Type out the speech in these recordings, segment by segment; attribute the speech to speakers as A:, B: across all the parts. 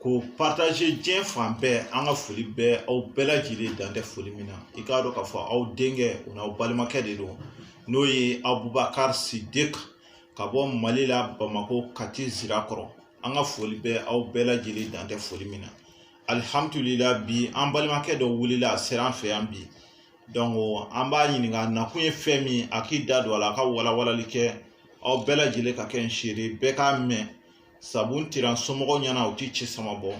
A: ko partaze diɲɛ fan bɛɛ an ka foli bɛ aw bɛɛ lajɛlen dan tɛ foli min na i k'a dɔn k'a fɔ aw denkɛ o n'aw balimakɛ de don n'o ye abubakari sidik ka bɔ mali la bamako kati zirakɔrɔ an ka foli bɛ aw bɛɛ lajɛlen dan tɛ foli min na alihamdulila bi an balimakɛ dɔ wulila a sera an fɛ yan bi donc an b'a ɲininka nakun ye fɛn min a k'i da don a la a ka walawalali kɛ aw bɛɛ lajɛlen ka kɛ n seere bɛɛ k'a mɛn sabu n tira somɔgɔw ɲɛna u ti ci sama bɔ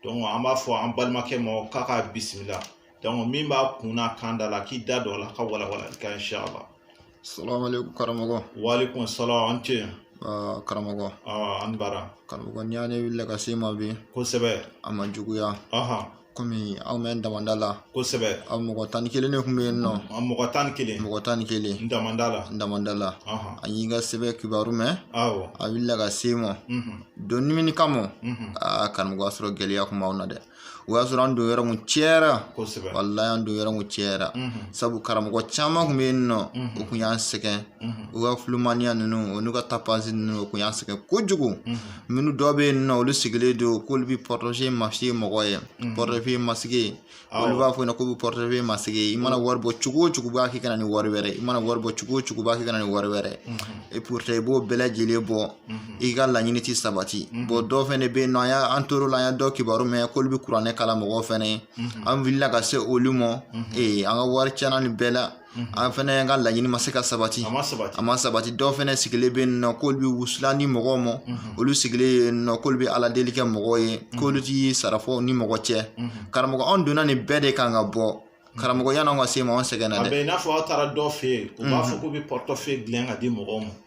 A: donc an b'a fɔ an balimakɛ ma k'a ka bisimila donc min b'a kunna kan da la k'i da don a la ka walawalali kɛ inshallah
B: salamaleykum karamɔgɔ walekum
A: salam an ce Uh,
B: karamɔgɔ uh, an bara
A: karamɔgɔ n'i y'a ye n wulila
B: ka s'i ma bi kosɛbɛ a ma
A: juguya
B: uh -huh. kɔmi aw mɛ damanda la kosɛbɛ an
A: mɔgɔ tan ni kelen
B: de kun bɛ yen nɔ aw mɔgɔ tan ni kelen
A: mɔgɔ tan ni kelen
B: n damanda la n damanda la an y'i ka sɛbɛn kibaru mɛn awɔ an wulila ka
A: s'i ma
B: donc ni mun kama aa karamɔgɔ y'a sɔrɔ gɛlɛya kun b'anw na dɛ o y'a sɔrɔ an don yɔrɔ kun cayara kosɛbɛ walayi
A: an don yɔrɔ
B: kun cayara sabu karamɔgɔ caman kun bɛ yen nɔ o kun y'an sɛgɛn o ka kulomaniya ninnu o n'u ka depansi ninnu o kun y'an sɛgɛn kojugu minnu dɔ bɛ yen nɔ olu sigilen don k'olu bɛ portefeuille magique mɔgɔ ye mhm. portefeuille magique olu b'a fɔ yen nɔ k'u bɛ portefeuille magique i mana wari bɔ cogo o cogo b'a k'i ka na ni wari wɛrɛ i mana wari bɔ cogo o cogo b'a k'i ka na ni wari wɛrɛ mhm. et pourtant i b'o bɛɛ lajɛlen bɔ mhm. i ka laɲini tɛ sabati bɔn dɔw fɛnɛ bɛ yen nɔ an y'an tor'o la an y'a dɔw kibaru mɛn k'olu bɛ kuranɛ kalan mɔgɔw fɛnɛ ye an wulila ka se olu ma ee an ka wari tiɲɛna nin bɛɛ la Mhm. an fɛnɛ ka laɲini ma se ka sabati a ma sabati dɔw fɛnɛ sigilen bɛ yen nɔ k'olu bɛ wusulan di mɔgɔw ma mhm. olu sigilen yen nɔ k'olu bɛ ala deli kɛ mɔgɔw ye mhm. k'olu ti sara fɔ ni mɔgɔ cɛ karamɔgɔ anw donna nin bɛɛ de kan ka bɔ karamɔgɔ yan'anw ka s'i ma anw sɛgɛnna dɛ a bɛ i n'a fɔ aw taara dɔ fɛ yen u b'a fɔ k'u bɛ portefeuille dilan ka di mɔgɔw ma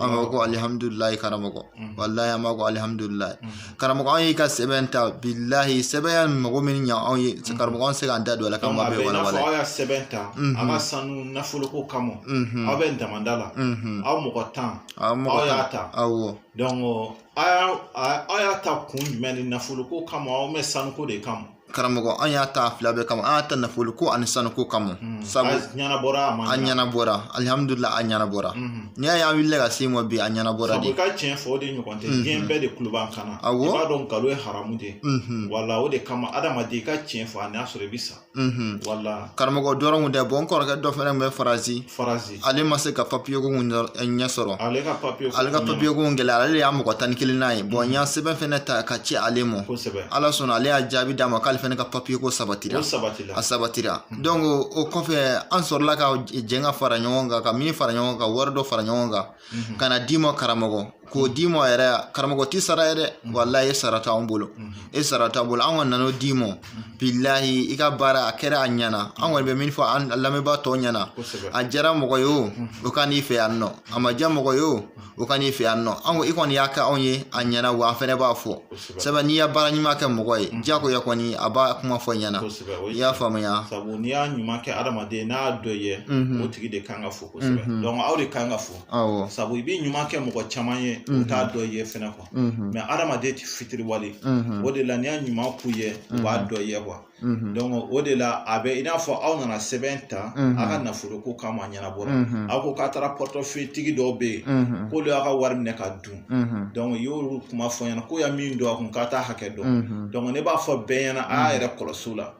B: an b'a ko alihamudulilayi karamɔgɔ walayi an b'a ko alihamudulilayi karamɔgɔ an y'i ka sɛbɛn ta bilahi sɛbɛn y'an mago min ɲa anw ye karamɔgɔ an se k'an da don a la k'an b'a bɛɛ walawala aw y'a sɛbɛn ta a ka sanu nafoloko kama aw bɛ damanda la aw mɔgɔ tan aw y'a ta awɔ aw y'a ta kun jumɛn ni nafoloko kama aw bɛ sanuko de kama karamɔgɔ an y'a ta fila bɛɛ kama an y'a ta nafoloko ani sanuko kama hmm. sabu a ɲɛnabɔra a ma a ɲɛnabɔra alihamudulila a ɲɛnabɔra hmm. n'i y'a ye an wulila ka s'i ma bi a ɲɛnabɔra de sabu ka tiɲɛ fɔ o de ɲɔgɔn tɛ hmm. diɲɛ bɛɛ de tulo b'an kan na awɔ i b'a dɔn nkalon ye haramu de ye wala o de kama adamaden i ka tiɲɛ fɔ a n'a sɔrɔ i bɛ sa wala karamɔgɔ dɔrɔn kun tɛ bɔn n kɔrɔkɛ dɔ fana tun bɛ faransi faransi ale ma se ka papiye ko ɲɛ sɔrɔ ale ka papiye ko gɛlɛya ale de y'an mɔgɔ tan ni kelennan ye bɔn n y'a sɛbɛn fɛnɛ ta ka ci ale ma ala sɔnna ale y'a jaabi d'an ma k'ale fɛnɛ ka papiye ko sabatira a sabatira donc o kɔfɛ an sɔrɔla ka jɛn ka fara ɲɔgɔn kan ka mun fara ɲɔgɔn kan ka wari dɔ fara ɲɔgɔn kan ka na d'i ma karamɔgɔ k'o d'i ma yɛrɛ karamɔgɔ ti sara ye dɛ mhm. walayi e sara t'anw bolo mhm. e sara t'anw bolo an kɔni nan'o d'i ma mhm. bilahi i ka baara a kɛra a ɲɛna an kɔni bɛ min fɔ an lamɛnbaa tɔw ɲɛna a diyara mɔgɔ ye o o ka n'i fɛ yan nɔ a ma diya mɔgɔ ye o o ka n'i fɛ yan nɔ an ko i kɔni y'a kɛ anw ye a ɲɛna wa an fɛnɛ b'a fɔ sabu n'i ye baara ɲuman kɛ mɔgɔ ye diyagoya kɔni a b'a kuma fɔ ɲɛna i y'a faamuya sabu n'i y'a ɲuman kɛ adamaden n'a dɔ ye o tigi de kan ka fo kosɛbɛ dɔnku aw de kan ka fo awɔ sabu i bɛ ɲuman kɛ mɔgɔ caman
A: ye u t'a dɔ ye fɛnɛ quoi mais adamaden ti fitiriwale o de la n'i y'a ɲuman k'u ye u b'a dɔ ye quoi dɔnku o de la a bɛ i n'a fɔ aw nana sɛbɛn ta a ka nafoloko kama a ɲɛnabɔra aw ko k'a taara portefeuille tigi dɔw bɛ yen k'olu y'a ka wari minɛ ka dun dɔnku i y'olu kuma fɔ n ɲɛna ko ya min don a kun k'a t'a hakɛ dɔn dɔnku ne b'a fɔ bɛɛ ɲɛna a y'a yɛrɛ kɔlɔsi u la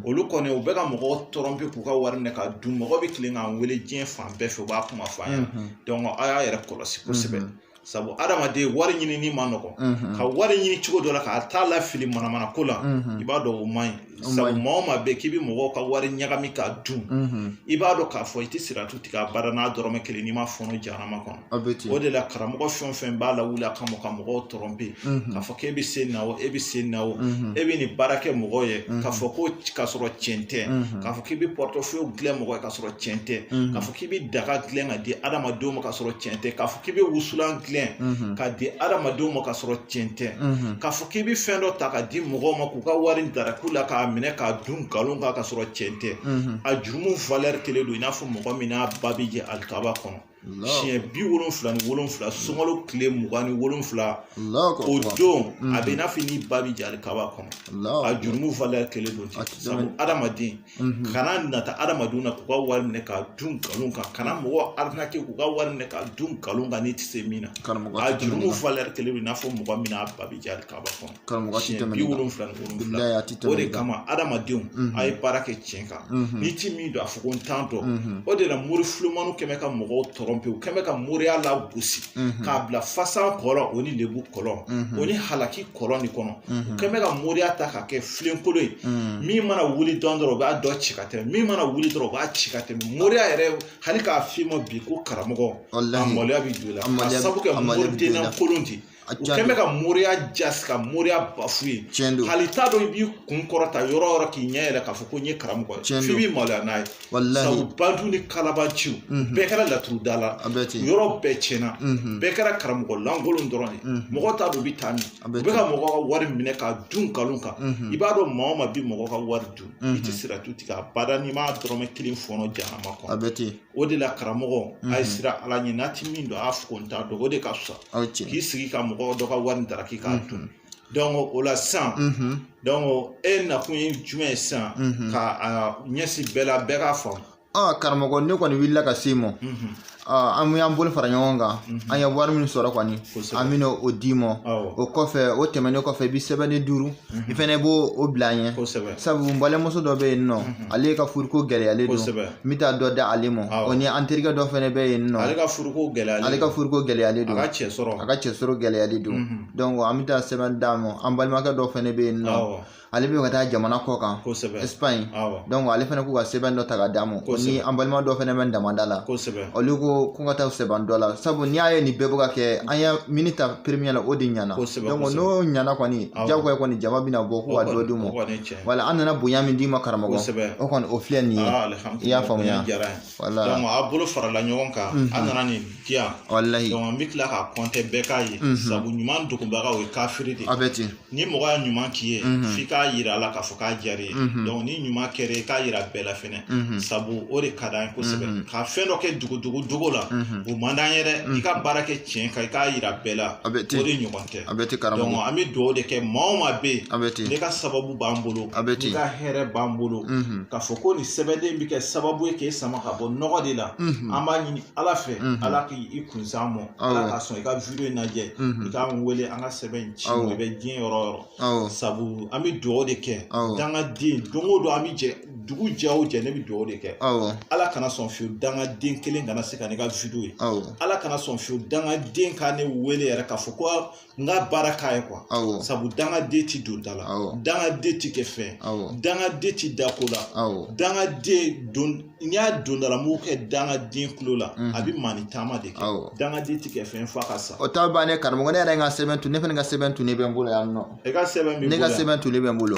A: olu kɔni u bɛ ka mɔgɔw tromper k'u ka wari minɛ ka dun mɔgɔ bɛ tilen k'an wele diɲɛ fan bɛɛ fɛ u b'a kuma fɔ an ɲɛna dɔnku a y'a yɛrɛ kɔlɔsi kosɛbɛ sabu adamaden wari ɲinini ma nɔgɔn ka wari ɲini cogo dɔ la k'a t'a lafili manamana ko la i b'a dɔn o man ɲi sabu maa o maa bɛ k'i bɛ mɔgɔw ka wari ɲagami k'a dun i b'a dɔn k'a fɔ i tɛ siratu tigɛ abada n'a dɔrɔmɛ kelen n'i ma fɔnɔ jahanama kɔnɔ o de la karamɔgɔ fɛn o fɛn b'a lawuli a kama ka mɔgɔw tromper k'a fɔ k'e bɛ se na o e bɛ se na o e bɛ nin baara kɛ mɔgɔw ye k'a fɔ ko k'a sɔrɔ cɛn tɛ k'a fɔ k'i bɛ portefeuille dilan mɔgɔ ye k'a sɔrɔ cɛn tɛ k'a fɔ k'i bɛ daga dilan ka di adamadenw ma k'a sɔrɔ cɛn tɛ k'a fɔ k'i bɛ wusulan dilan ka di adamadenw ma k'a sɔrɔ tiɲɛ tɛ k'a fɔ k'i bɛ fɛn dɔ ta ka di mɔgɔw ma k'u ka wari dara k'u la k'a minɛ k'a dun nkalon kan ka sɔrɔ tiɲɛ tɛ a jurumu valeur kelen don i n'a fɔ mɔgɔ min n'a ba bɛ jɛ alikaba kɔnɔ siɲɛ bi wolonfila ni wolonfila sunkalo tile mugan ni wolonfila o don a bɛ i n'a fɔ n'i ba bɛ jɛ alikaba kɔnɔ a jurumu valeur kelen don sabu adamaden kana nata adamadenw na k'u ka wari minɛ ka dun nkalon kan kana mɔgɔ arnaquer k'u ka wari minɛ ka dun nkalon kan n'i tɛ se min na a jurumu valeur kelen don i n'a fɔ mɔgɔ min n'a ba bɛ jɛ alikaba kɔnɔ siɲɛ bi wolonwula ni wolonwula o de kama adamadenw a ye baara kɛ tiɲɛ kan n'i ti min dɔn a fɔ ko n t'a dɔn o de la mori fulumaniw kɛn bɛ ka mɔgɔw tromper u kɛn bɛ ka moriya lagosi k'a bila fasa kɔlɔn o ni lebu kɔlɔn o ni halaki kɔlɔn nin kɔnɔ u kɛn bɛ ka moriya ta ka kɛ filenkolon ye min mana wuli dɔɔnin dɔrɔn o b'a dɔ ci ka tɛmɛ min mana wuli dɔrɔn o b'a ci ka tɛmɛ moriya yɛrɛ hali k'a f'i ma bi ko karamɔgɔ a maloya bɛ don i la ka sabu kɛ moriden nankolon di u kɛn bɛ ka moriya jasi ka moriya bafouer hali t'a dɔn i b'i kun kɔrɔta yɔrɔ yɔrɔ k'i ɲɛ yɛlɛ k'a fɔ ko n ye karamɔgɔ ye f'i b'i maloya n'a ye wallahi sabu bandiw ni kalabanciw mhm. bɛɛ kɛra laturu da la yɔrɔ bɛɛ tiɲɛna mhm. bɛɛ kɛra karamɔgɔ lankolon dɔrɔn de mhm. mɔgɔ t'a dɔn u bɛ taa min u bɛ ka mɔgɔ ka wari minɛ k'a dun nkalon kan i b'a dɔn maa o maa bɛ mɔgɔ ka wari dun i tɛ siratu tigɛ abada n'i m'a dɔrɔmɛ kelen fɔnɔ jahanama kɔnɔ o de la karamɔgɔ a ye siran ala ɲɛ n'a tɛ min dɔn a y'a fɔ ko n t'a dɔn o de ka fisa k'i sigi ka mɔgɔ dɔ ka wari daraki k'a dun o la sisan e nakun ye jumɛn ye sisan ka a ɲɛsin bɛɛ la bɛɛ k'a faamu ɔ karamɔgɔ ne kɔni
B: wulila ka s'i ma an y'an bolo fara ɲɔgɔn kan an ye wari min sɔrɔ kɔni an bɛna o d'i ma o kɔfɛ o tɛmɛnen kɔfɛ i bɛ sɛbɛnni duuru i fɛnɛ b'o bila an ɲɛ sabu n balimamuso dɔ bɛ yen nɔ ale ka furuko gɛlɛyalen don n bɛ taa dɔ da ale ma o ni an terikɛ dɔ fɛnɛ bɛ yen nɔ ale ka furuko gɛlɛyalen don a ka cɛsɔrɔ gɛlɛyalen don an bɛ taa sɛbɛn d'a ma an balimakɛ dɔ fɛnɛ bɛ yen nɔ ale bɛ ka taa jamana kɔ kan Espagne ale fɛnɛ k'u ka sɛbɛn dɔ ta ka d'a ma o ni an balima dɔ fɛnɛ bɛ damanda la olu ko ko ka taa sɛbɛn dɔ la sabu n'i y'a ye nin bɛɛ bɛ ka kɛ an ye min ta premier la o de ɲɛna n'o ɲɛna kɔni jagoya kɔni jama bɛna bɔ k'u ka dɔ d'u ma wala an nana bonya min d'i ma karamɔgɔ o kɔni o filɛ nin ye i y'a faamuya. Wala. Donc
A: a bolo farala ɲɔgɔn kan mm -hmm. a nana nin di yan walayi donc an bɛ tila k'a compter bɛɛ k'a ye mm -hmm. sabu ɲuman dogobaga o ye kafiri de a bɛ ten ni mɔgɔ ye ɲuman k'i ye mm -hmm. f'i k'a yira a la k'a fɔ k'a diyar'i ye mm -hmm. donc ni ɲuman kɛr'i ye k'a yira bɛɛ la fɛnɛ mm -hmm. sabu o de ka d'an ye kosɛbɛ mm -hmm. ka fɛn dɔ kɛ dogodogo dogo la mm -hmm. o man d'an ye dɛ mm -hmm. i ka baara kɛ tiɲɛ kan i k'a yira bɛɛ la o de ɲɔgɔn tɛ a bɛ ten karamɔgɔ donc an bɛ dugawu de kɛ maa o maa bɛ yen a bɛ ten ne ka sababu b'an bolo a bɛ ten ne ka hɛrɛ b'an bolo mhm. k'a fɔ ko nin sɛbɛnden bɛ kɛ sababu ye k'e sama ka bɔ nɔgɔ de la mhm. an b'a ɲini ala fɛ mhm. ala k'i kun s'an mɔ ala ka sɔn i ka video in lajɛ i k'an wele an ka sɛbɛn in ci i bɛ diɲɛ yɔrɔ o yɔrɔ sabu an bɛ dugawu de kɛ dangaden don o don an bɛ jɛ dugu jɛ o jɛ ne bɛ dugawu de kɛ ala kana sɔn fiyewu dangaden kelen kana se ka ne ka video ye ala kana sɔn fiyewu dangaden ka ne wele yɛrɛ k'a fɔ ko n ka baara k'a ye quoi sabu dangaden ti don da la dangaden ti kɛ fɛn dangaden ti da ko la dangaden don n'i y'a don da la n b'o kɛ dangaden kulo la mhm. a bɛ maa ni taama de kɛ dangaden ti kɛ fɛn f'a ka sa o t'a bannen karamɔgɔ ne
B: yɛrɛ ye n ka sɛbɛn tun ne fana ka sɛbɛn tunnen bɛ n bolo yan nɔ e ka sɛbɛn
A: b'i bolo
B: ne ka sɛbɛn
A: tunnen bɛ
B: n
A: bolo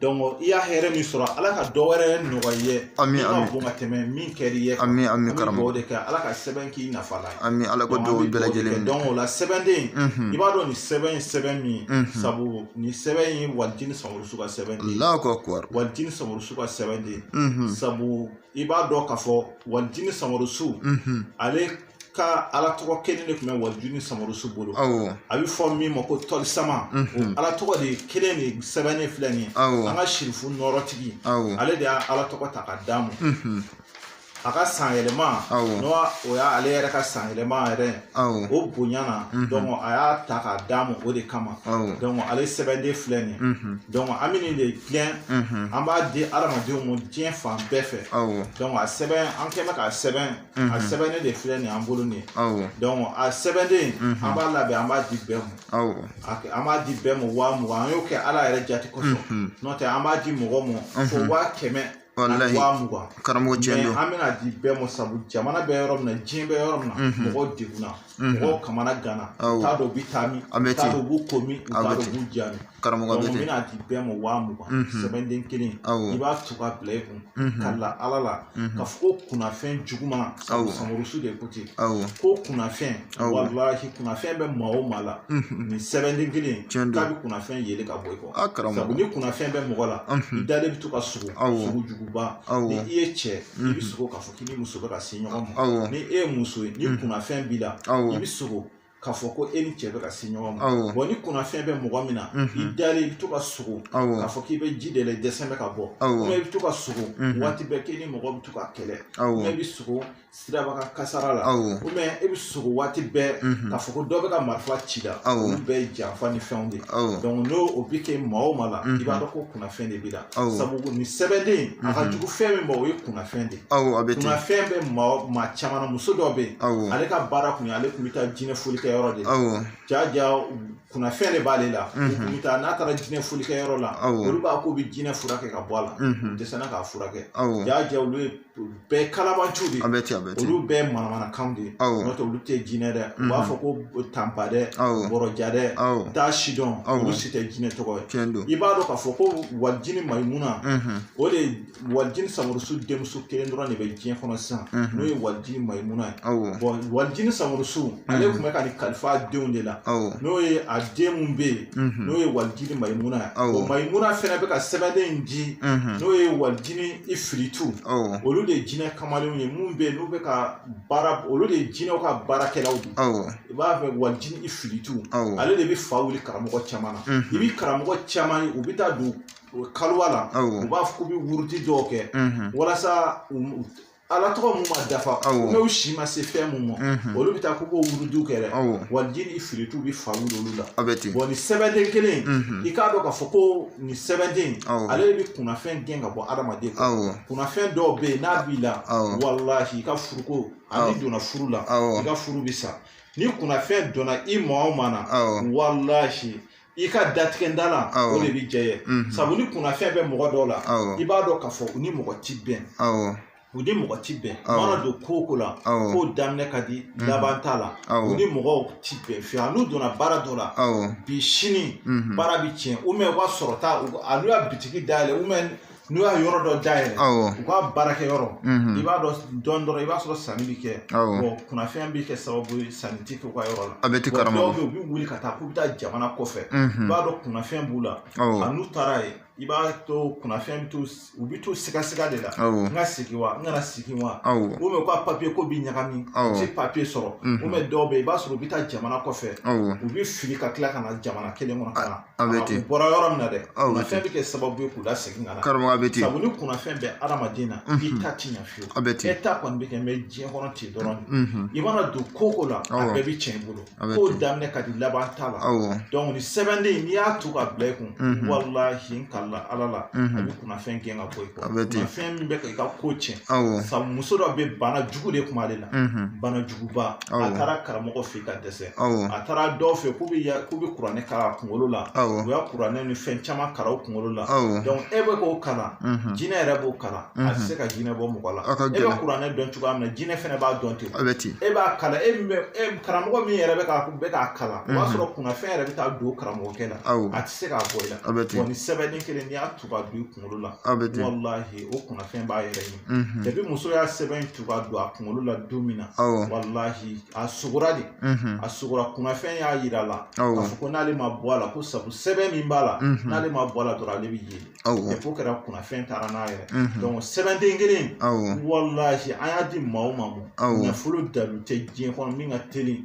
B: donc i ye
A: hɛrɛ min sɔrɔ ala ka dɔ wɛrɛ nɔgɔy'i ye ami ami ka bon ka
B: tɛmɛ
A: min kɛr'i ye ami ami karamɔgɔ o de
B: kɛ ala ka
A: sɛbɛn k'i nafa la ami ala ka dugawu bɛɛ
B: lajɛlen donc o la sɛbɛnden
A: i b'a dɔn nin sɛbɛn ye sɛbɛn min sabu nin sɛbɛn ye walijini Samurusu ka sɛbɛn de ye allahu akbar walijini Samurusu ka sɛbɛn de ye sabu i b'a dɔn k'a fɔ walijini Samurusu ale ka ala tɔgɔ kelen de tun bɛ walijini samarusu bolo a bɛ fɔ min ma ko tɔlisama mhm. ala tɔgɔ de kelen de sɛbɛnnen filɛ nin ye an ka sirifu nɔrɔtigi ale de ye ala tɔgɔ ta ka d'a ma mhm. a ka san yɛlɛma n'o y'ale yɛrɛ ka san yɛlɛma yɛrɛ o bonya na mhm. donc a y'a ta k'a d'a ma o de kama donc ale sɛbɛnden filɛ nin ye donc an bɛ nin de dilan an b'a di adamadenw ma diɲɛ fan bɛɛ fɛ donc a sɛbɛn an kɛ bɛ k'a sɛbɛn Mhm. a sɛbɛnnen de filɛ nin an bolo nin ye donc a sɛbɛnden mhm. an b'a labɛn an b'a di bɛɛ ma an b'a di bɛɛ ma waa mugan an y'o kɛ ala yɛrɛ jate kosɔn mhm. n'o tɛ an b'a di mɔgɔ ma fo waa kɛmɛ ani
B: waa mugan karamɔgɔ tiɲɛ don an bɛna di bɛɛ ma
A: sabu jamana bɛ yɔrɔ min na diɲɛ bɛ yɔrɔ min na mɔgɔw degunna mɔgɔw kamanaganna u t'a dɔn u bɛ taa min u t'a dɔn u b'u ko min u t'a dɔn u b'u ja min karamɔgɔ donc an bɛna
B: di bɛɛ
A: ma waa mugan mhm. sɛbɛnden kelen i b'a to ka bila i kun mhm. ka la ala la mhm. ka fɔ ko kunnafɛn juguman samurusu de ko ten ko kunnafɛn walahi kunnafɛn bɛ maa o maa la nin sɛbɛnden kelen k'a bɛ kunnafɛn yeli ka bɔ i kɔ ah, sabu ni kunnafɛn bɛ mɔgɔ la i dalen bɛ to ka sugo sugo juguba ni i ye cɛ i bɛ sogo k'a fɔ k'i ni muso bɛ ka se ɲɔgɔn ma ni e ye muso ye ni kunnafɛn b'i la i bɛ sogo k'a fɔ ko e ni cɛ bɛ ka se ɲɔgɔn ma awɔ bon ni kunnafɛn bɛ mɔgɔ min na i unhun dalen i bɛ to ka sogo awɔ k'a fɔ k'i bɛ ji de la i dɛsɛlen bɛ ka bɔ awɔ ou bien i bɛ to ka sogo Mhm. waati bɛɛ k'i ni mɔgɔ bɛ to ka kɛlɛ awɔ ou bien i bɛ sogo siraba kan kasara la awɔ ou bien i bɛ sogo waati bɛɛ unhun k'a fɔ ko dɔ bɛ ka marifa ci i la Awɔ. olu bɛɛ ye janfa ni fɛnw de ye awɔ donc n'o o bɛ kɛ maa o maa la Mhm. i b'a dɔn ko kunnafɛn de b'i la Awɔ. sabu nin sɛbɛnden a ka Mhm. jugu fɛn min ma o ye kunnafɛn de ye kunnafɛn bɛ maa caman na muso dɔ bɛ yen ale ka baara kun ye ale tun bɛ taa jinɛ foli kɛ yɔrɔ de la jaja kunnafɛn de b'ale la u mhm. bɛ taa n'a taara jinɛ foli kɛ yɔrɔ la olu b'a fɔ k'u bɛ jinɛ furakɛ ka bɔ a la mhm. u dɛsɛra k'a furakɛ jaja olu ye bɛɛ kalabanciw de ye olu bɛɛ manamanakan de ye n'o tɛ olu tɛ jinɛ dɛ u b'a mhm. fɔ ko tanpa dɛ bɔrɔja dɛ taa sidɔn olu si tɛ jinɛ tɔgɔ ye i b'a dɔn k'a fɔ ko walijini mayimuna o de walijini samurusu denmuso kelen dɔrɔn de bɛ diɲɛ kɔnɔ sisan n'o ye walijini mayimuna ye bon walijini samurusu ale tun bɛ ka nin kalifa a denw de la n'o ye a den min bɛ yen n'o ye walijini mayimuna ye bon mayimuna fana bɛ ka sɛbɛnden in di n'o ye walijini ifiritu olu de ye jinɛ kamalenw ye minnu bɛ yen n'u bɛ ka baara olu de ye jinɛw ka baarakɛlaw de i b'a fɛ walijini ifiritu ale de bɛ fa wuli karamɔgɔ caman na i bɛ karamɔgɔ caman ye u bɛ taa don u bɛ kaliwa la u b'a fɔ k'u bɛ wurudi dɔw kɛ walasa ala tɔgɔ mun ma dafa n'u si ma se fɛn mun ma olu bɛ taa k'u b'o wurudiw kɛ dɛ wa jinɛ ifiritu bɛ fa wuli olu la bon nin sɛbɛnden kelen i k'a dɔn k'a fɔ ko nin sɛbɛnden ale de bɛ kunnafɛn gɛn ka bɔ adamaden kunnafɛn dɔw bɛ yen n'a b'i la walahi i ka furuko a n'i donna furu la i ka furu bɛ sa ni kunnafɛn donna i maa o maa na walahi i ka datigɛda la o de bɛ jɛ ye mhm. sabu ni kunnafɛn bɛ mɔgɔ dɔw la i b'a dɔn k'a fɔ u ni mɔgɔ ti bɛn u ni mɔgɔ ti bɛn mana don ko o ko la ko daminɛ ka di mhm. laban t'a la u ni mɔgɔw ti bɛn fiyewu a n'u donna baara dɔ la bi sini mhm. baara bɛ tiɲɛ ou bien u ka sɔrɔta a n'u y'a bitigi dayɛlɛ ou bien n'u y'a yɔrɔ dɔ dayɛlɛ u ka baarakɛ yɔrɔ mhm. i b'a dɔn dɔrɔn i b'a sɔrɔ sanni bɛ kɛ bon kunnafɛn bɛ kɛ sababu ye sanni tɛ kɛ u ka yɔrɔ la a bɛ ten karamɔgɔ dɔw bɛ yen u bɛ wuli ka taa k'u bɛ taa jamana kɔfɛ mhm. i b'a dɔn kunnafɛn b'u la a n'u taara yen i b'a to kunnafɛn bɛ to u bɛ to sigasiga de la n ka sigi wa n kana sigi wa ou bien u ka papiye ko bɛ ɲagami u tɛ papiye sɔrɔ ou bien dɔw bɛ yen i b'a sɔrɔ u bɛ taa jamana kɔfɛ u bɛ fili ka tila ka na jamana kelen kɔnɔ ka na a bɛ ten u bɔra yɔrɔ min na dɛ kunnafɛn bɛ kɛ sababu ye k'u lasegin ka na karamɔgɔ a bɛ ten sabu ni kunnafɛn bɛ adamaden na i ta ti ɲɛ fiyewu a bɛ ten e ta kɔni bɛ kɛ mɛ diɲɛ kɔnɔ ten dɔrɔn de i mana don ko o ko la a bɛɛ bɛ tiɲɛ i bolo ko daminɛ ka di laban t'a la dɔnku nin sɛbɛnden n'i y'a tu ka bila i kun walahi n kalila ala la a bɛ kunnafɛn gɛn ka bɔ i kɔ kunnafɛn min bɛ ka i ka ko tiɲɛ sabu muso dɔ bɛ bana jugu de kun b'ale la bana jugu ba a taara karamɔgɔ fɛ ka dɛsɛ a taara dɔw fɛ k'u bɛ k'u bɛ kuranɛ kalan a kunkolo la u ye kuranɛ ni fɛn caman kalan u kunkolo la e bɛ k'o kalan jinɛ yɛrɛ b'o kalan a tɛ se ka jinɛ bɔ mɔgɔ la e bɛ kuranɛ dɔn cogoya min na jinɛ fana b'a dɔn ten e b'a kalan e min bɛ e karamɔgɔ min yɛrɛ bɛ k'a bɛ k'a kalan o b'a sɔrɔ kunnafɛn yɛrɛ bɛ taa don karamɔgɔkɛ la a tɛ se k'a bɔ i la nin sɛbɛnden kelen n'i y'a tugu ka don kunkolo la a bɛ ten walahi o kunnafɛn b'a yɛrɛ ɲini mhm. depi muso ye sɛbɛn in tugu ka don a kunkolo la don min na walahi a sugora de mhm. a sugora kunnafɛn y'a yira a la k'a fɔ ko n'ale ma bɔ a la ko sabu sɛbɛn min b'a la mhm. n'ale ma bɔ a la dɔrɔn ale bɛ ye depi o kɛra kunnafɛn taara n'a yɛrɛ donc sɛbɛnden kelen walahi an y'a di maa o maa ma nafolo dalu tɛ diɲɛ kɔnɔ min ka teli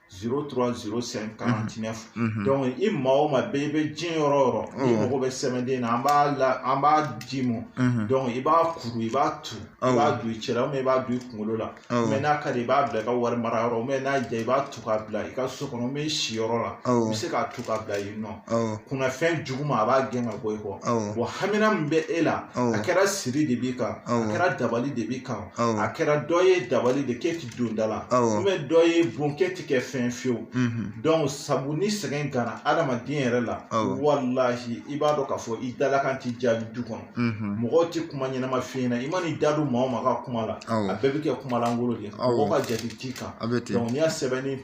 A: zéro trois zéro cinq quarante-neuf dɔnku i maa o maa bɛɛ i bɛ diɲɛ yɔrɔ o yɔrɔ i mago bɛ sɛbɛnden na an b'a la an b'a d'i ma dɔnku i b'a kuru i b'a tu i b'a don i cɛ la i b'a don i kunkolo la mɛ n'a ka di i b'a bila i ka wari mara yɔrɔ mɛ n'a diya i b'a tu k'a bila i ka so kɔnɔ mɛ i siyɔrɔ la i bɛ se k'a tu k'a bila yen nɔ kunnafɛn juguman a b'a gɛn ka bɔ i kɔ bon hamina min bɛ e la a kɛra siri de b'i kan a kɛra dabali de b'i kan a kɛra dɔ ye dabali de k'e don da la Awɔ. ou bien dɔ y'e bon k'e ti kɛ fɛn fiyewu Mhm. donc sabu ni sɛgɛn gana adamaden yɛrɛ la Awɔ. walahi i b'a dɔn k'a fɔ i dalakan ti jaabi du kɔnɔ Mhm. mɔgɔw ti kuma ɲɛnama f'i ɲɛna i man'i da don maa o maa ka kuma la Awɔ. a bɛɛ bi kɛ kuma langolo de ye Awɔ. mɔgɔ ka jate t'i kan a bɛ ten donc n'i y'a sɛbɛnni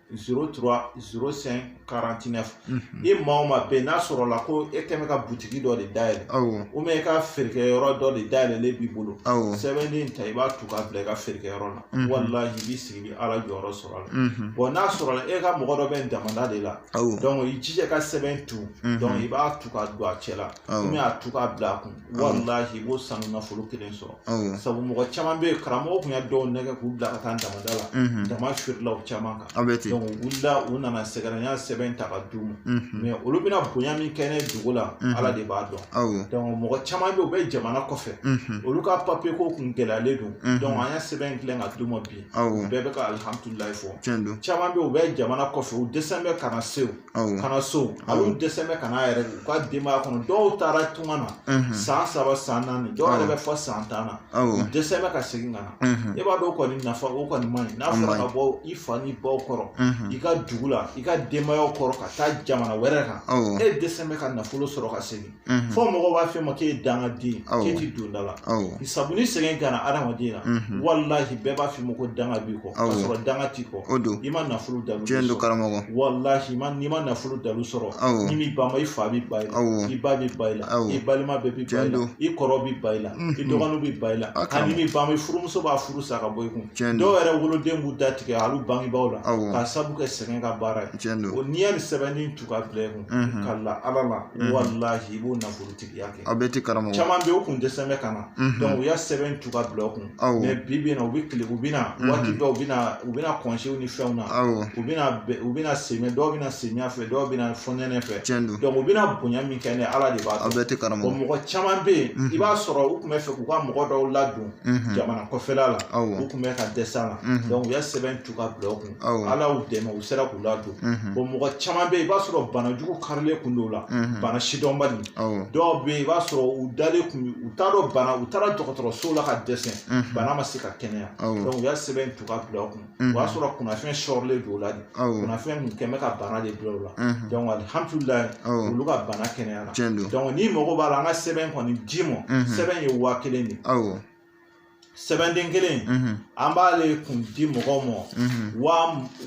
A: 03 05 49 i maa o maa bɛ yen n'a sɔrɔla ko e kɛn bɛ ka butigi dɔ de dayɛlɛ awɔ ou bien i ka feerekɛyɔrɔ dɔ de dayɛlɛlen b'i bolo awɔ sɛbɛnden in ta i b'a tu k'a bila i ka feerekɛyɔrɔ la Mhm. walahi i b'i sigi i bɛ ala jɔyɔrɔ sɔrɔ a la mhm, bon n'a sɔrɔla e ka mɔgɔ dɔ bɛ damanda de la awɔ donc i jija i ka sɛbɛn tu Mhm. donc i b'a tu k'a don a cɛ la Awɔ. ou bien a tu k'a bila a kun walahi i b'o sanu nafolo kelen sɔrɔ awɔ sabu mɔgɔ caman bɛ yen karamɔgɔ tun y'a dɔw nɛgɛn k'u bila ka taa damanda la unhun daman firila u caman kan a bɛ ten u wulila u nana sɛgɛrɛ n y'a sɛbɛn ta ka d'u ma unhun mais olu bɛna bonya min kɛ ne dugu la Mhm. ala de b'a dɔn awɔ donc mɔgɔ caman bɛ yen u bɛ jamana kɔfɛ unhun olu ka papiye ko kun gɛlɛyalen don Mhm. donc an y'a sɛbɛn dilan ka d'u ma bi awɔ u bɛɛ bɛ ka alihamudulilayi fɔ tiɲɛ don caman bɛ yen u bɛ jamana kɔfɛ u dɛsɛlen bɛ ka na so awɔ ka na so hali u dɛsɛn bɛ ka na yɛrɛ u ka denbaya kɔnɔ dɔw taara tunga na mhm, san saba san naani dɔw yɛrɛ bɛ fɔ san tan na u awɔ dɛsɛn bɛ ka segin ka na mhm, e b'a dɔn o kɔni nafa o kɔni man ɲi n'a A fɔra man ka bɔ i fa n'i baw kɔrɔ mhm, i ka dugu la i ka denbayaw kɔrɔ ka taa jamana wɛrɛ kan awɔ e dɛsɛn bɛ ka nafolo sɔrɔ ka segin Mhm. fɔ mɔgɔw b'a f'i ma k'e ye dangaden Awɔ. k'e ti don da la Awɔ. sabu ni sɛgɛn gana adamaden na Mhm. walahi bɛɛ b'a f'i ma ko danga b'i kɔ k'a Awɔ. sɔrɔ danga t'i kɔ O don. i ma nafolo dalu Tiɲɛ don sɔrɔ karamɔgɔ. walahi i ma- n'i ma nafolo dalu sɔrɔ Awɔ. n'i m'i bama i fa b'i ban i la Awɔ. i ba b'i ban i la Awɔ. i balima bɛɛ b'i ban i Tiɲɛ la don. i kɔrɔ b'i ban i la i Mhm. dɔgɔninw b'i ban i la A n'i karamɔgɔ. m'i bama i furumuso b'a furu sa ka bɔ i kun Tiɲɛ don. dɔw yɛrɛ woloden b'u da tigɛ hali u bangebaaw la Awɔ. k'a sabu kɛ sɛgɛn ka baara ye Tiɲɛ don. o n'i y'a ni sɛbɛnni tu k'a bila i kun mhm. ka la ala la mhm. walahi i b'o nafolotigiya kɛ a bɛ ten karamɔgɔ caman bɛ u kun dɛsɛn bɛ ka na mhm. donc u y'a sɛbɛn tu k'a bila u kun mais bi bi in na u bɛ tile u bɛ na waati dɔw u bɛ na u bɛ na kɔnsew ni fɛnw na u bɛ na u bɛ na semɛ dɔw bɛ na samiya fɛ dɔw bɛ na fɔnɛnɛ fɛ donc u bɛ na bonya min kɛ ne ala de b'a dɔn a bɛ ten karamɔgɔ bon mɔgɔ caman bɛ yen i b'a sɔrɔ u tun bɛ fɛ k'u ka mɔgɔ dɔw ladon jamana kɔfɛla la u tun bɛ ka dɛsɛ a la donc u y'a sɛbɛn tu k'a bila u kun ala y'u dɛmɛ u sera k'u ladon bon mɔgɔ caman bɛ yen i b'a sɔrɔ bana jugu karilen kun don la bana sidɔnbali dɔw bɛ yen i b'a sɔrɔ u dalen kun u t'a dɔn bana u taara dɔgɔtɔrɔso la ka dɛsɛ bana ma se ka kɛnɛya u y'a sɛbɛn tu k'a bila u kun o y'a sɔrɔ kunnafɛn sɔrɔlen don u la de kunnafɛn kun kɛn bɛ ka bana de bila u la alihamudulilayi olu ka bana kɛnɛyara n'i mago b'a la an ka sɛbɛn kɔni d'i ma sɛbɛn ye waa kelen de ye sɛbɛnden kelen an b'ale kun di mɔgɔw ma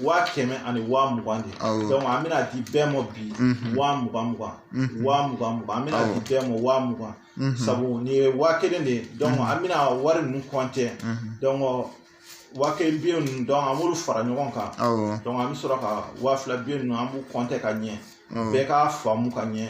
A: waa kɛmɛ ani waa mugan de donc an bɛna di bɛɛ ma bi waa mugan mugan waa mugan mugan an bɛna di bɛɛ ma waa mugan sabu nin ye waa kelen de ye donc an bɛna wari ninnu kɔntɛ donc waa kelen biyɛ ninnu donc an b'olu fara ɲɔgɔn kan donc an bɛ sɔrɔ ka waa fila biyɛ ninnu an b'u kɔntɛ ka ɲɛ bɛɛ k'a faamu ka ɲɛ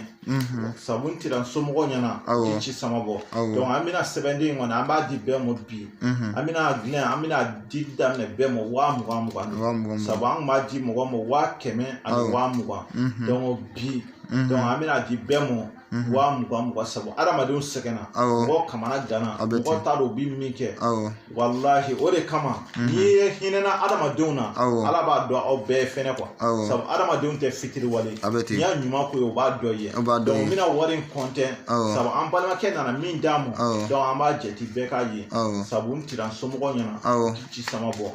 A: sabu n tira somɔgɔw ɲɛna i ci sama bɔ donc an bɛna sɛbɛnden in kɔni an b'a di bɛɛ ma bi an bɛna dilan an bɛna di daminɛ bɛɛ ma waa mugan mugan sabu an kun b'a di mɔgɔ ma waa kɛmɛ ani waa mugan donc bi donc an bɛna di bɛɛ ma mhm. waa mugan mugan sabu adamadenw sɛgɛnna mɔgɔw kamanaganna mɔgɔ t'a dɔn u bi min kɛ walahi o de kama mhm. n'i ye hinɛna adamadenw na ala b'a dɔn aw bɛɛ fɛnɛ quoi sabu adamadenw tɛ fitiriwale n'i y'a ɲuman k'o ye o b'a dɔn i ye donc n bɛna wari in kɔntɛ sabu an balimakɛ nana min d'an ma donc an b'a jɛti bɛɛ k'a ye sabu n tira n somɔgɔ ɲɛna ci sama bɔ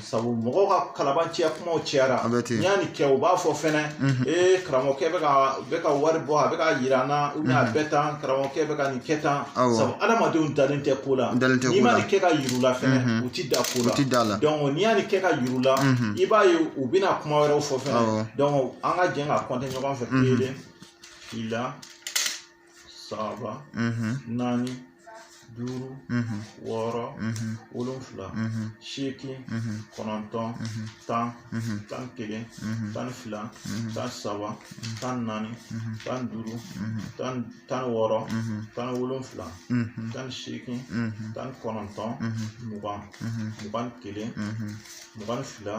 A: sabu mɔgɔw ka kalabanciya kumaw cayara n'i y'a nin kɛ u b'a fɔ fɛnɛ mhm. ee karamɔgɔkɛ bɛ ka bɛ ka wari bɔ a bɛ ka yira an na ou bien a mhm. bɛ tan karamɔgɔkɛ bɛ ka nin kɛ tan sabu adamadenw dalen tɛ ko la n'i ma nin kɛ ka yir'u la fɛnɛ mhm. u ti da ko la donc n'i y'a nin kɛ ka yir'u la i b'a ye u bɛna kuma wɛrɛw fɔ fɛnɛ donc an ka jɛn ka kɔnte ɲɔgɔn fɛ kelen fila saba naani duuru wɔɔrɔ wolonfila seegin kɔnɔntɔn tan tan kelen tan fila tan saba tan naani tan duuru tan tan wɔɔrɔ tan wolonfila tan seegin tan kɔnɔntɔn mugan mugan kelen mugan fila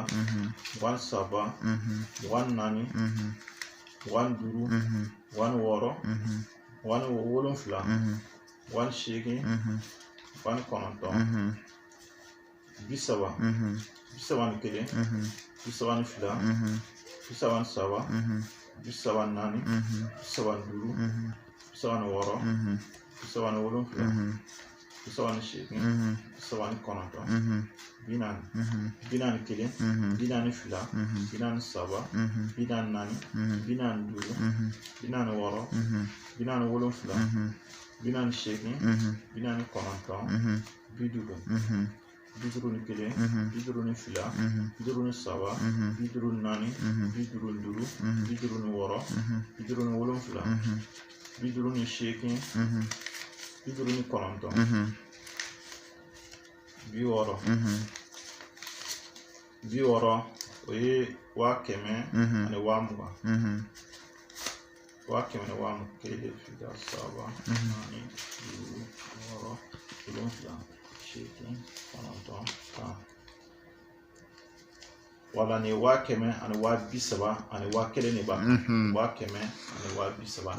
A: mugan saba mugan naani mugan ni duuru mugan ni wɔɔrɔ mugan ni wolonfila mugan ni seegin mugan ni kɔnɔntɔn bi saba bi saba ni kelen bi saba ni fila bi saba ni saba bi saba ni naani bi saba ni duuru bi saba ni wɔɔrɔ bi saba ni wolonfila bi saba ni seegin bi saba ni kɔnɔntɔn bi naani bi naani kelen bi naani fila bi naani saba bi naani naani bi naani duuru bi naani wɔɔrɔ bi naani wolonfila bi naani seegin bi naani kɔnɔntɔn bi duuru bi duuru ni kelen bi duuru ni fila bi duuru ni saba bi duuru ni naani bi duuru ni duuru bi duuru ni wɔɔrɔ bi duuru ni wolonfila bi duuru ni seegin bi duuru ni kɔnɔntɔn bi wɔɔrɔ bi wɔɔrɔ o ye waa kɛmɛ ani waa mugan waa kɛmɛ ni waa mugan kelen fila saba naani duuru wɔɔrɔ wolonfila seegin kɔnɔntɔn tan voilà nin waa kɛmɛ ani waa bi saba ani waa kelen de b'a mhm. waa kɛmɛ ani waa bi saba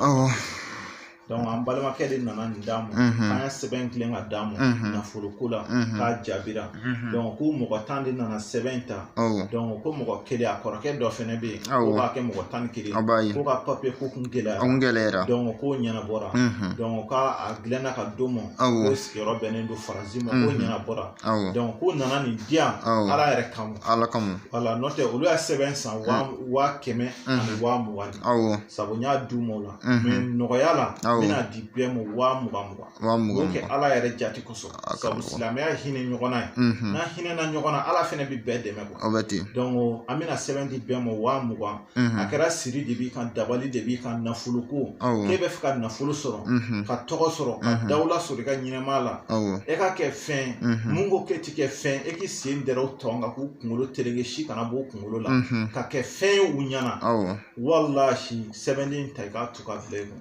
A: donc an balimakɛ de nana nin d'an ma an ye sɛbɛn dilan ka d'a ma nafoloko la k'a jaabira Mhm. donc ko mɔgɔ tan de nana sɛbɛn in ta donc ko mɔgɔ kelen a kɔrɔkɛ dɔ fɛnɛ bɛ yen k'o b'a kɛ mɔgɔ tan ni kelen k'o ka papiyeko kun gɛlɛyara kun gɛlɛyara donc k'o ɲɛnabɔra mhm. donc k'a dilanna ka d'o ma k'o sigiyɔrɔ bɛnnen don faransi ma k'o mhm. ɲɛnabɔra donc k'o nana nin di yan ala yɛrɛ kama ala kama voilà n'o tɛ olu y'a sɛbɛn san waa kɛmɛ ani waa mugan de sabu n y'a d'u ma o la mais nɔgɔya la n bɛna di bɛɛ ma waa mugan mugan waa mugan kɛ ala yɛrɛ jati kosɔn sabu silamɛya hinɛ ɲɔgɔn na ye n'a hinɛna ɲɔgɔn na ala fɛnɛ bɛ bɛɛ dɛmɛ kuwa aw bɛ ten dɔnku an bɛna sɛbɛn di bɛɛ ma waa mugan a kɛra siri de b'i kan dabali de b'i kan nafolo ko k'e b'a fɛ ka nafolo sɔrɔ ka tɔgɔ sɔrɔ ka dawula sɔrɔ i ka ɲɛnɛmaya la e ka kɛ fɛn mun ko k'e ti kɛ fɛn e k'i sen dɛrɛ u tɔn kan k'u kunkolo tereke si kana b'u kunkolo la ka kɛ fɛn ye u ɲɛ na walahi sɛbɛnden ta i k'a tu ka bila i kun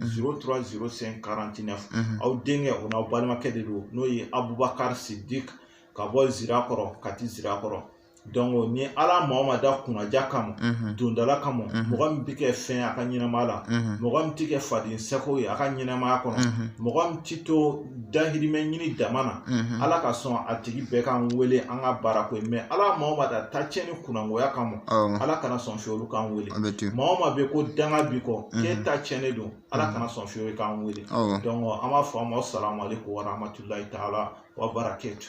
A: 0305 49 aw denkɛ o n'aw balimakɛ de don n'o ye Abubakari Sidik ka bɔ Zirakɔrɔ Kati Zirakɔrɔ donc ni Ala maa o maa da kunnaja kama dondala kama mɔgɔ min bɛ kɛ fɛn ye a ka ɲɛnamaya la mɔgɔ min tɛ kɛ faden seko ye a ka ɲɛnamaya kɔnɔ mɔgɔ min tɛ to dahirimɛ ɲini dama na mhm. ala ka sɔn a tigi bɛɛ k'an wele an ka baara k'u ye mais ala maa o maa da ta tiɲɛ ni kunnangoya kama ala kana sɔn fewu olu k'an wele maa o maa bɛɛ ko danga b'i kɔ mhm. k'e ta tiɲɛnen don ala mhm. kana sɔn fewu k'an wele donc an b'a fɔ aw ma salamu aleykum wa rahmatulahi taala wa barakatu